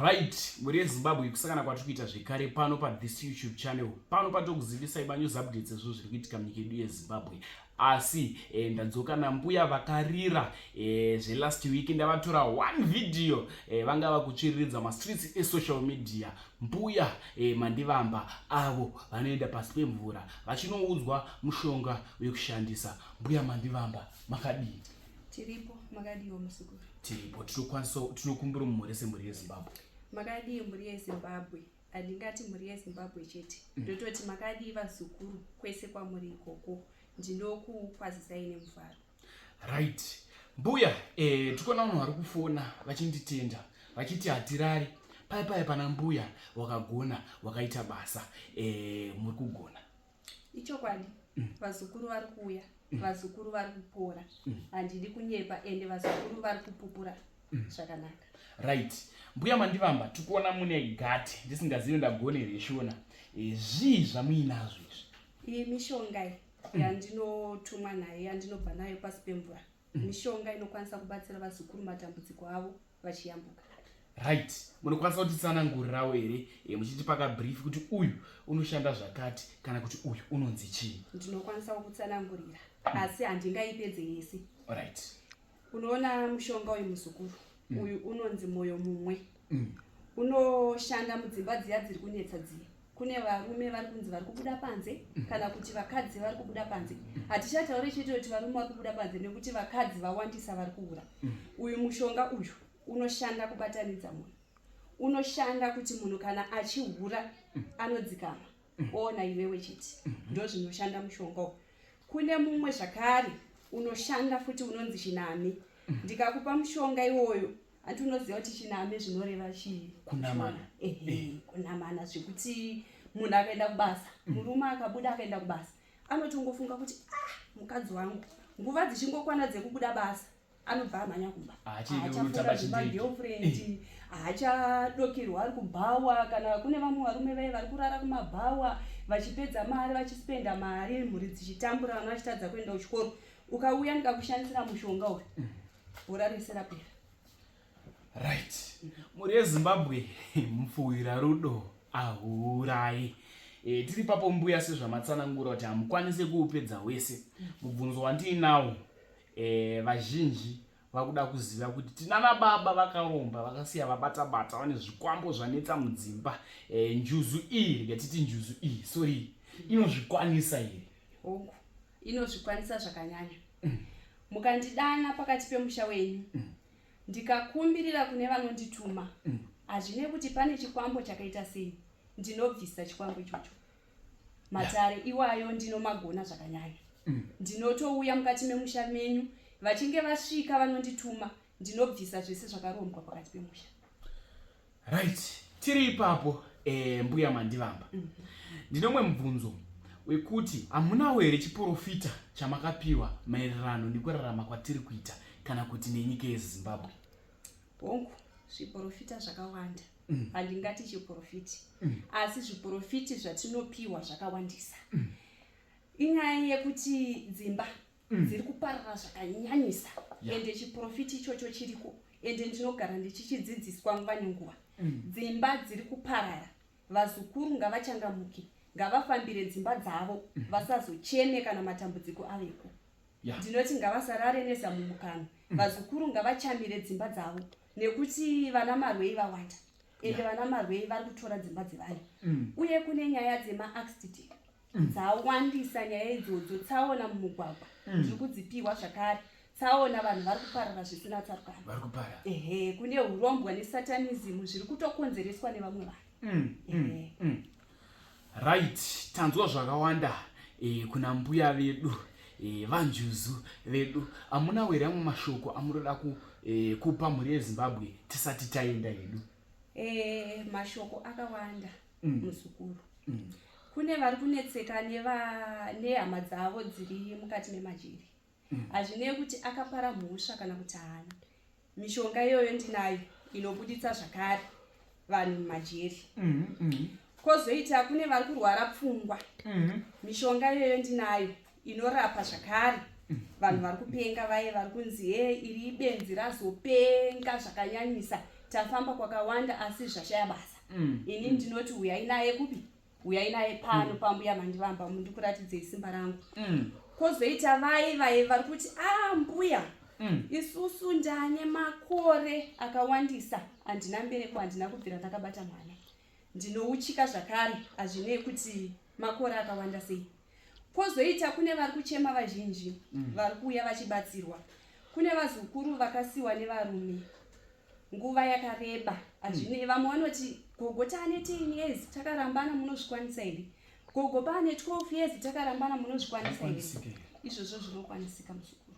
right mhuri yezimbabwe kusangana kwatiri kuita zvekare pano pathis youtube channel pano patokuzivisai manews updates ezvo zviri kuitika munyika yedu yezimbabwe asi e, ndadzoka nambuya vakarira e, zvelast week ndavatora one video e, vanga vakutsviriridza mastreets esocial media mbuya e, mandivamba avo vanoenda pasi pemvura vachinoudzwa mushonga wekushandisa mbuya mandivamba makadii Tiripo, makadiwo musukuru. Tiripo, tinokwanisa tinokumbira mumhuri semhuri yeZimbabwe. Makadii mhuri yeZimbabwe? Handingati mhuri yeZimbabwe chete. Mm. Ndototi makadii vazukuru kwese kwamuri ikoko. Ndinokukwazisai nemufaro. Right. Mbuya, eh tikuona vanhu vari kufona vachinditenda vachiti hatirari. Pai pai pana mbuya wakagona wakaita basa eh muri kugona. ichokwadi mm. vazukuru vari kuuya mm. vazukuru vari kupora mm. handidi kunyepa ende vazukuru vari kupupura zvakanaka right mbuya mandivamba tikuona mune gate ndisingazivi ndagone reshona e, zvii zvamuinazvo izvi iyi mishonga yandinotumwa nayo yandinobva nayo pasi pemvura mishonga inokwanisa kubatsira vazukuru matambudziko avo vachiyambuka right munokwanisa kutitsanangurirawo here e, muchitipa kabrief kuti uyu unoshanda zvakati kana kuti uyu unonzi chii ndinokwanisawo kutsanangurira hmm. asi handingaipedze yese right unoona mushonga uyu muzukuru mm. uyu unonzi mwoyo mumwe mm. unoshanda mudzimba dziya dziri kunetsa dziya kune varume vari kunzi vari kubuda panze kana kuti vakadzi vari kubuda panze hatichataure chete kuti varume vari kubuda panze nekuti vakadzi vawandisa vari kuura uyu mushonga uyu unoshanda kubatanidza munhu unoshanda kuti munhu kana achihura anodzikama oona iwewe chete ndo zvinoshanda mushonga uyu kune mumwe zvakare unoshanda futi unonzi chinami ndikakupa mushonga iwoyo ati unoziva kuti chiname zvinoreva chii kunamana ehe eh. kunamana zvekuti munhu akaenda kubasa mm. murume akabuda akaenda kubasa anotongofunga kuti ah mukadzi wangu nguva dzichingokwana dzekubuda basa anobva amhanya kumba ahachafuaagirlfriend ahachadokerwa ari kubhawa kana kune vamwe varume vaye vari kurara kumabhawa vachipedza mari vachispenda mari mhuri dzichitambura vana vachitadza kuenda kuchikoro ukauya ndikakushandisira mushonga uyu mm. Hura rese rapera. Right. Mhuri yeZimbabwe mupfuwira rudo ahuurayi. E, tiri papo mbuya sezvamatsanangura kuti hamukwanise kuupedza wese. Mubvunzo wandiinawo e, vazhinji vakuda kuziva kuti tinana baba vakaromba vakasiya vabata bata vane zvikwambo zvanetsa mudzimba e, njuzu iyi rikatiti njuzu iyi sorry inozvikwanisa here? Oku. inozvikwanisa zvakanyanya mm. mukandidana pakati pemusha wenyu mm. ndikakumbirira kune vanondituma mm. hazvine kuti pane chikwambo chakaita sei ndinobvisa chikwambo ichocho matare yeah. iwayo ndinomagona zvakanyanya mm. ndinotouya mukati memusha menyu vachinge vasvika vanondituma ndinobvisa zvese zvakarombwa pakati pemusha right tiri ipapo eh, mbuya mandivamba mm -hmm. ndinomwe mubvunzo wekuti hamunawo here chiporofita chamakapiwa maererano nekurarama kwatiri kuita kana kuti nenyika yezimbabwe hongu zviporofita zvakawanda mm. handingati chiporofiti mm. asi zviporofiti zvatinopiwa zvakawandisa mm. inyaya yekuti dzimba mm. dziri kuparara zvakanyanyisa yeah. ende chiprofiti ichocho chiriko ende ndinogara ndichichidzidziswa nguva nenguva mm. dzimba dziri kuparara vazukuru ngavachangamuke ngavafambire dzimba dzavo mm. vasazocheme kana matambudziko aveko yeah. ndinoti ngavasarare nezamumukano mm. vazukuru ngavachamire dzimba dzavo nekuti vana marwei vawanda ende yeah. vana marwei vari kutora dzimba dzevanhu mm. uye kune nyaya dzemaaccident mm. dzawandisa nyaya idzodzo tsaona mumugwagwa mm. ndiri kudzipihwa zvakare tsaona vanhu vari kuparara zvisina tsarukano ehe kune urombwa nesatanizimu zviri kutokonzereswa nevamwe vanhu mm, mm, mm. right tanzwa zvakawanda e, kuna mbuya vedu e, vanjuzu vedu amuna were amwe mashoko amunoda ku, e, kupa mhuri yezimbabwe tisati taenda hedu e, mashoko akawanda mm. muzukuru mm. mm. kune vari kunetseka nehama dzavo dziri mukati memajeri mm. hazvinei mm. kuti akapara mhosva kana kuti haana mishonga iyoyo ndinayo inobuditsa zvakare vanhu mumajeri mm. mm. kozoita kune vari kurwara pfungwa mm. mishonga iyoyo ndinayo inorapa zvakare vanhu vari kupenga vaye vari kunzi he iri benzi razopenga zvakanyanyisa tafamba kwakawanda asi zvashaya basa mm. ini ndinoti huyai naye kupi huyai naye pano mm. pambuya mandivamba ndikuratidzei simba rangu mm. kwozoita vaye vaye vari kuti a ah, mbuya mm. isusu ndane makore akawandisa handina mbereko handina kubvira ndakabata mwana ndinouchika zvakare hazvinei kuti makore akawanda sei kwozoita kune vari kuchema vazhinji mm. vari kuuya vachibatsirwa kune vazukuru vakasiwa nevarume nguva yakareba mm. hazvinei mm. vamwe vanoti gogo taane 10 years takarambana munozvikwanisa here gogo paane 12 years takarambana munozvikwanisa here izvozvo zvinokwanisika muzukuru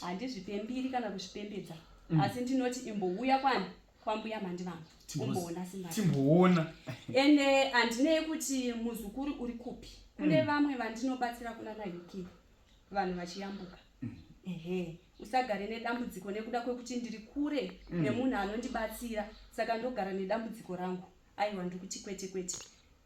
handizvipembiri right. kana kuzvipembedza mm. asi ndinoti imbouya kwani kwambuya mandivanga umboona simba timboona ende handinei kuti muzukuru uri kupi kune mm. vamwe vandinobatsira kunana hiki vanhu vachiyambuka mm. ehe usagare nedambudziko nekuda kwekuti ndiri kure mm. nemunhu anondibatsira saka ndogara nedambudziko rangu aiwa ndikuti kwete kwete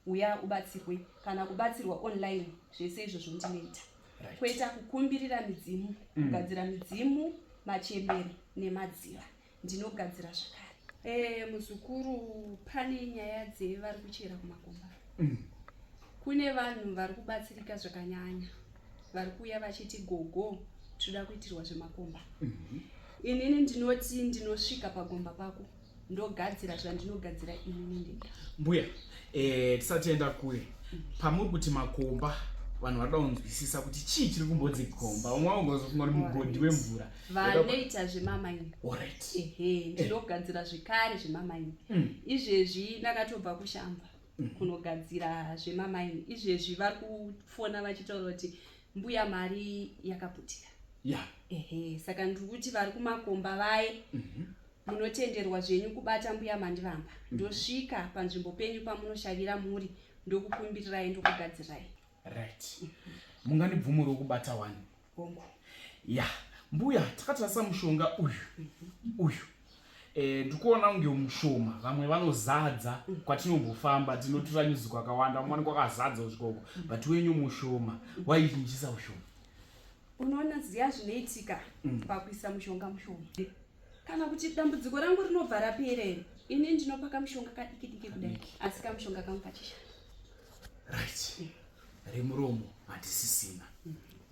uya ubatsirwe kana kubatsirwa online zvese izvozvo ndinoita right. kweta kukumbirira midzimu mm. kugadzira midzimu machembere nemadziva ndinogadzira zvakare eh, muzukuru pane nyaya dzevari kuchera kumakomba mm. kune vanhu vari kubatsirika zvakanyanya vari kuuya vachiti gogo tinoda kuitirwa zvemakomba mm -hmm. inini ndinoti ndinosvika pagomba pako ndogadzira zvandinogadzira inini ndega mbuya eh, tisatienda kure mm. pamuri kuti makomba vanhu vanoda kunzwisisa kuti chii chiri kumbodzi gomba umwe aungazofunga kuti mugodhi wemvura vanoita zvemamaini ehe ndinogadzira zvekare zvemamaini mm. izvezvi ndakatobva kushamba mm. kunogadzira zvemamaini izvezvi vari kufona vachitaura kuti mbuya mari yakaputika ehe saka ndiri kuti vari kumakomba vaye mhm. munotenderwa zvenyu kubata mbuya mandivamba mhm. ndosvika panzvimbo penyu pamunoshavira muri ndokukumbirirai ndokugadzirirai right mungandibvumuriwo kubata wani ya mbuya takatarisa mushonga uyu uyu e, ndikuona kunge mushoma vamwe vanozadza kwatinombofamba tinotura nyuzi kwakawanda umwani kwakazadza usvikoko but wenyu mushoma waichinjisa ushoma unoona ziya zvinoitika mm. pakuisa mushonga mushoma kana kuti dambudziko rangu rinobva raperere ini ndinopaka mushonga kadiki diki kudai asi kamushonga kangu kachishanda right remuromo hatisisina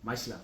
much love